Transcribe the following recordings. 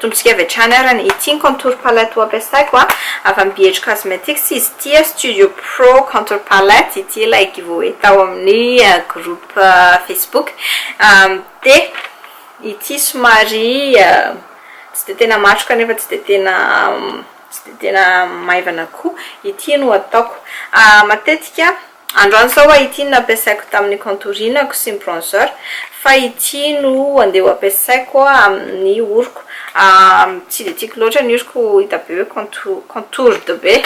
atombotsika avy hatrany ara ny ity ny contour palette ho ampiasaiko a avy amin'ny BH Cosmetics izy ity a Studio Pro Contour Palette ity ilay giveaway tao amin'ny euh, groupe euh, Facebook euh, dia ity somary Tsy dia tena matroka nefa tsy dia tena tsy dia tena maivana koa. Ity no ataoko. Matetika, androany izao ho'a ity no nampiasaiko tamin'ny contour-inako sy ny bronzer. Fa ity no andeha ho ampiasaiko amin'ny oroko. Tsy dia tiako loatra ny oroko hita be hoe contour, contoured be.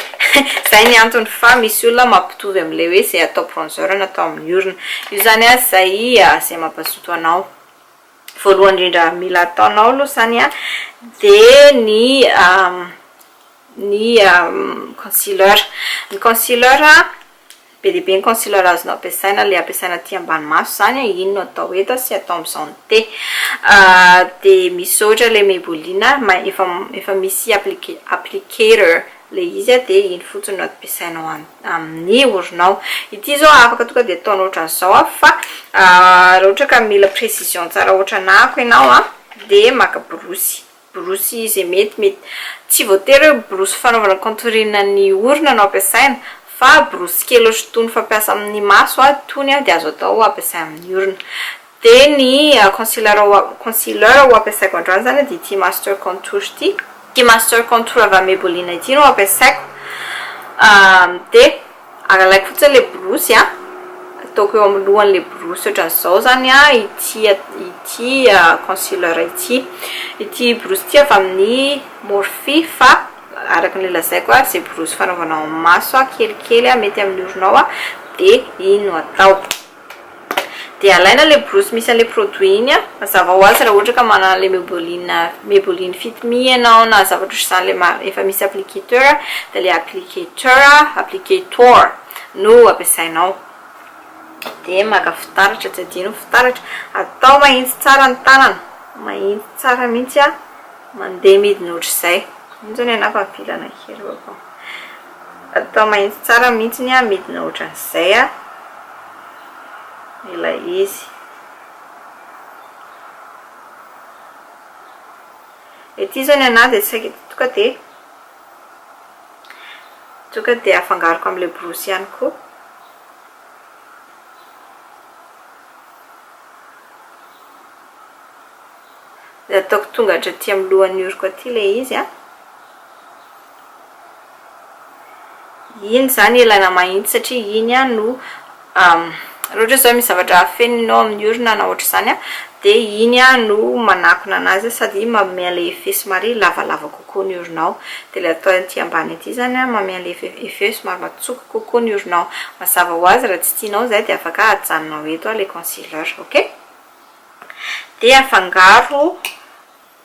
Izay ny antony fa misy olona mampitovy amin'ilay hoe izay atao bronzer na atao amin'ny orona. Io izany an izay izay mampazoto anao. Voalohany indrindra mila ataonao aloha izany an, dia ny ny concealer. Ny concealer, be dia be ny concealer azonao ampiasaina, ilay ampiasaina aty ambany maso izany an, iny no atao eto sy atao amin'izao ny te. Dia misy ohatra ilay Maybelline, efa efa misy applique applicator ilay izy an, dia iny fotsiny no ampiasainao amin'ny. amin'ny oronao. Ity izao afaka tonga dia ataonao ohatran'izao an, fa raha ohatra ka mila précision tsara ohatran'ako ianao an, dia maka borosy, borosy izay mety mety, tsy voatery hoe borosy fanaovana contouring ny orona no ampiasaina, fa borosy kely ohatran'itony fampiasa amin'ny maso an, itony dia azo atao ampiasaina amin'ny orona. Dia ny concealer concealer ho ampiasaiko androany izany dia ity master contour ity, ity master contour avy amin'ny Maybelline ity no ampiasaiko, dia alaiko fotsiny ilay borosy an, ataoko eo amin'ny lohan'ilay borosy ohatran'izao izany ity ity concealer ity, ity borosy ity avy amin'ny Morphe fa araka ny lazaiko ary izay borosy fanaovanao amin'ny maso kelikely mety amin'ny oronao dia iny no atao. Dia alaina ilay borosy misy an'ilay produit iny an, mazava ho azy raha ohatra ka manana ilay Maybelline Maybelline fit me ianao na zavatra ohatr'izany ilay ma- efa misy applicateur dia ilay applicateur applicator no ampiasainao. Dia maka fitaratra, tsy adino ny fitaratra, atao mahitsy tsara ny tanana, mahitsy tsara mihitsy an, mandeha midina ohatr'izay, iny izao ny anà efa avela nankeo. Atao mahintsy tsara mihintsy ny amidina ohatran'izay a! ilay izy. Ety zao ny anah dia saika tonga dia tonga dia afangaroko amin'ilay borosy ihany koa. Dia ataoko tonga hatraty amin'ny lohan'ny oroko aty ilay izy a! Iny zany ilaina mahintsy satria iny an no raha ohatra zao misy zavatra afeninao amin'ny orona na ohatr'izany an dia iny an no manakona anazy sady manome an'ilay effet somary lavalava kokoa ny oronao. Dia ilay atao aty ambany aty zany an manome an'ilay eff- effet somary matsoko kokoa ny oronao. Mazava ho azy raha tsy tianao izay dia afaka ajanonao eto ilay concealer. Ok? Dia afangaro.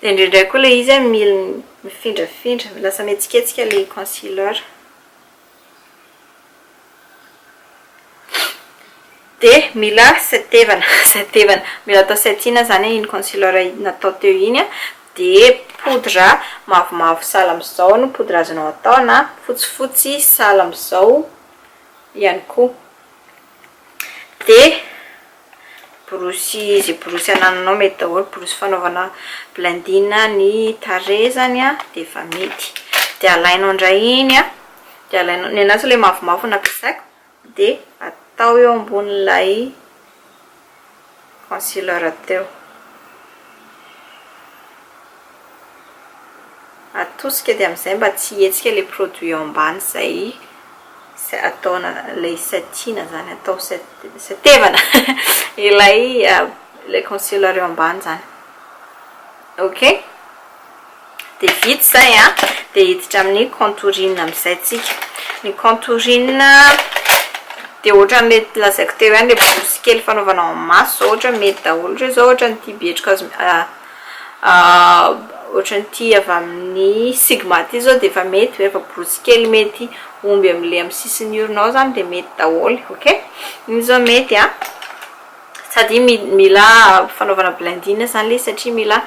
Dia indraindray koa ilay izy mila mifindrafindra, lasa mihetsiketsika ilay concealer. Dia mila setevana, setevana. Mila atao setting izany iny concealer natao teo iny. Dia poudre mavomavo sahala amin'izao no poudre azonao atao, na fotsifotsy sahala amin'izao ihany koa. Dia borosy izay borosy anananao mety daholo borosy fanaovana blending ny tarehy zany a de efa mety de alainao indray iny a de alainao ny anazy ilay mavomavo no ampiasaiko de atao eo ambonin'ilay concealer teo atosika dia amin'izay mba tsy hihetsika ilay produit eo ambany izay ataona ilay satiana izany atao satevana ilay ilay concealer eo ambany izany ok dia vita izay a dia hiditra amin'ny contouring amin'izay tsika ny contouring dia ohatran'ilay lazaiko teo ihany ilay borosy kely fanaovana amin'ny maso izao ohatra mety daholo ireo izao ohatra ny tia betroka azo Ohatran'ity avy amin'ny sigma ity zao dia efa mety hoe efa borosy kely mety omby amin'ilay amin'ny sisin'ny orona ao izany dia mety daholo ok iny zao mety a sady iny mila fanaovana blending izany ilay izy satria mila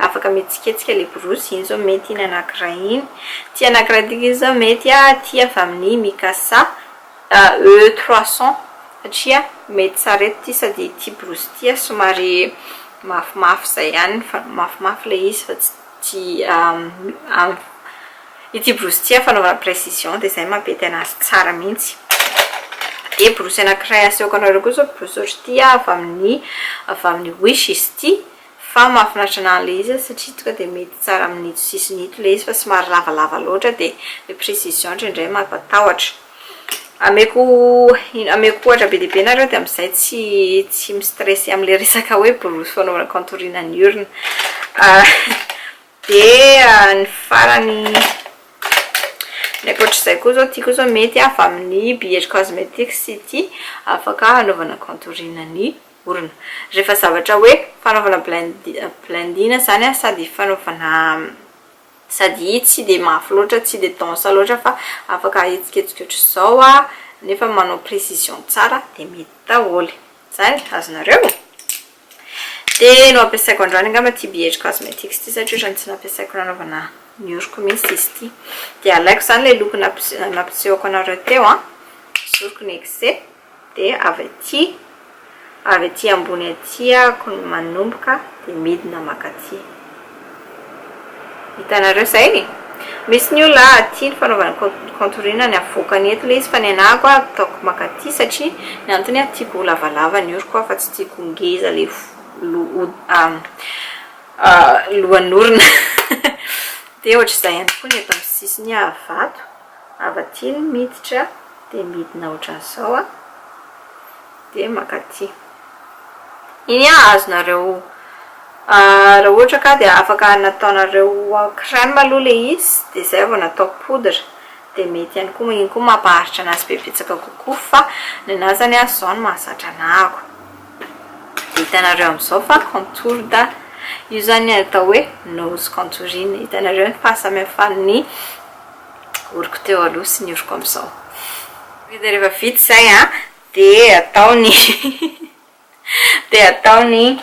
afaka mihetsiketsika ilay borosy iny zao mety iny anankiray iny ity anankiray ity kosa izao mety a ity avy amin'ny mikasa AE trois cents satria mety sarety ity sady ity borosy ity somary mafimafy izay ihany fa mafimafy ilay izy fa tsy tsy ity borosy ity amin'ny fanaovana précision dia izay mampety an'azy tsara mihitsy dia borosy anankiray asehoko anareo koa izao borosy ohatra ity avy amin'ny avy amin'ny wish izy ity fa mahafinaritra an'ahy ilay izy satria tonga dia mety tsara amin'ito sisiny ito ilay izy fa somary lavalava loatra dia ilay précision indraindray mampatahotra Ameko ameko ohatra be dia be nareo dia amizay tsy tsy mi stresse amle resaka hoe borosy fanaovana contourine ny orona dia ny farany ny akoatr'izay koa zao ty koa zao mety avy amin'ny BH cosmetics ity afaka hanaovana contourine ny orona rehefa zavatra hoe fanaovana blend blending zany sady fanaovana Sady i tsy dia mafy loatra, tsy dia dense loatra fa afaka ahetsiketsika ohatr'izao nefa manao précision tsara dia mety daholo. Izany, azonareo? Dia noampiasaiko androany angamba ity BH Cosmetics ity satria ohatrany tsy nampiasaiko nanaovana ny oroko mihitsy izy ity. Dia alaiko izany ilay loko nampisehoko anareo teo an, zoriko ny exe. Dia avy aty, avy aty ambony aty ako ny manomboka dia midina makaty. Hitanareo izay? Misy ny olona ah, tia ny fanaovana ny contourine ny avoakany eto ilay izy fa ny anah ako ah ataoko makaty satria ny antony ah tiako ho lavalava ny oroko ah fa tsy tiako ho ngeza ilay lohan'orona. Dia ohatr'izay ihany koa ny eto amin'ny sisiny ah vato. Avy aty ny miditra dia midina ohatran'izao a, dia mankaty. Iny a, azonareo, raha ohatra ka dia afaka nataonareo en crème aloha ilay izy dia izay vao natao poudre dia mety ihany koa, iny koa mampaharitra anazy be betsaka kokoa fa ny anahy izany a izao no mahazatra anahako. Dia hitanareo amin'izao fa contour da, io izany atao hoe nose contouring, hitanareo ny fahasamihafan'ny. oroko teo aloha sy ny oroko amin'izao. Dia rehefa vita izay an, dia atao ny dia atao ny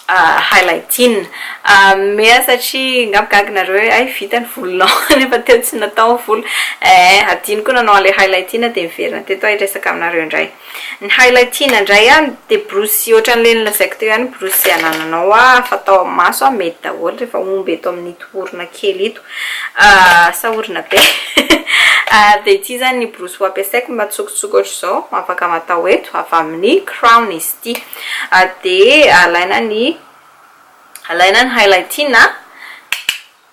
highlighting. Mea satria angamba gaga nareo hoe hay vita ny volonao nefa teo tsy natao ny volo. Ee, hadino koa nanao an'ilay highlighting dia niverina teto aho hiresaka aminareo indray. Ny highlighting indray an, dia borosy ohatran'ilay nolazaiko teo ihany ny borosy anananao an, fatao amin'ny maso an, mety daholo rehefa omby eto amin'ito orona kely ito. Sahorina be. Dia ity izany ny borosy ho ampiasaiko mba tsokotsoko ohatr'izao, afaka matao eto, avy amin'ny Crown izy ity. Dia alaina ny alaina ny highlighting a,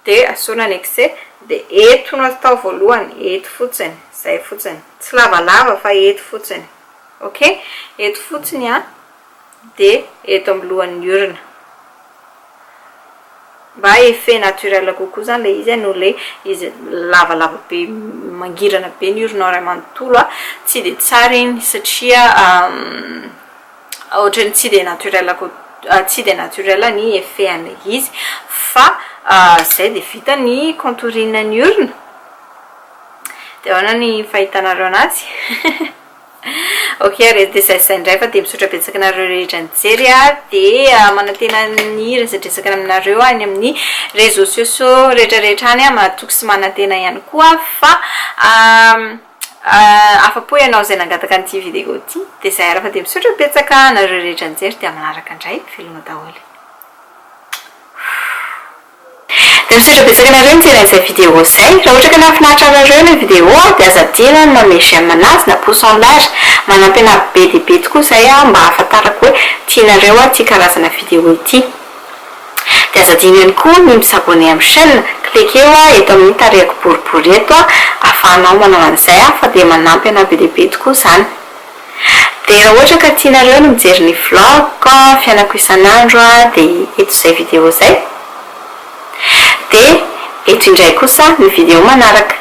dia asorina ny excès, dia eto no atao voalohany, eto fotsiny, izay fotsiny, tsy lavalava fa eto fotsiny, ok, eto fotsiny an, dia eto amin'ny lohan'ny urne. Mba effet naturel kokoa izany ilay izy noho ilay izy lavalava be mangirana be ny urne ao iray manontolo, tsy dia tsara iny satria ohatran'ny tsy dia naturel koa, tsy dia naturel ny effet an'ilay izy. Fa izay dia vita ny contouring ny urne. Dia ahoana ny fahitanareo an'azy? Ok re de zay zay ndray fa de misaotra betsaka anareo rehetra nijery a de manantena ny hiresadresaka aminareo any amin'ny réseaux sociaux rehetra rehetra any a mahatoky sy manantena ihany koa fa afapo ianao zay nangataka an'ity vidéo ty de zay ary fa de misaotra betsaka anareo rehetra nijery de amin'ny manaraka ndray veloma daholo. Misaotra betsaka anareo nijery an'izay vidéo zay. Raha ohatra ka nahafinaritra anareo ilay vidéo dia aza adino ny manome j'aime anazy na pouce en l'air. Manampy anah be dia be tokoa izay mba hahafantarako hoe tianareo aho ity karazana vidéo ity. Dia aza adino ihany koa ny mi s'abonner amin'ny chaîne. Cliquer oa eto amin'ny tarehiko boribory eto ahafahanao manao an'izay fa dia manampy anah be dia be tokoa izany. Dia raha ohatra ka tianareo ny mijery ny vlog-ko fiainako isan'andro dia eto izay video izay. Dia eto indray kosa ny video manaraka.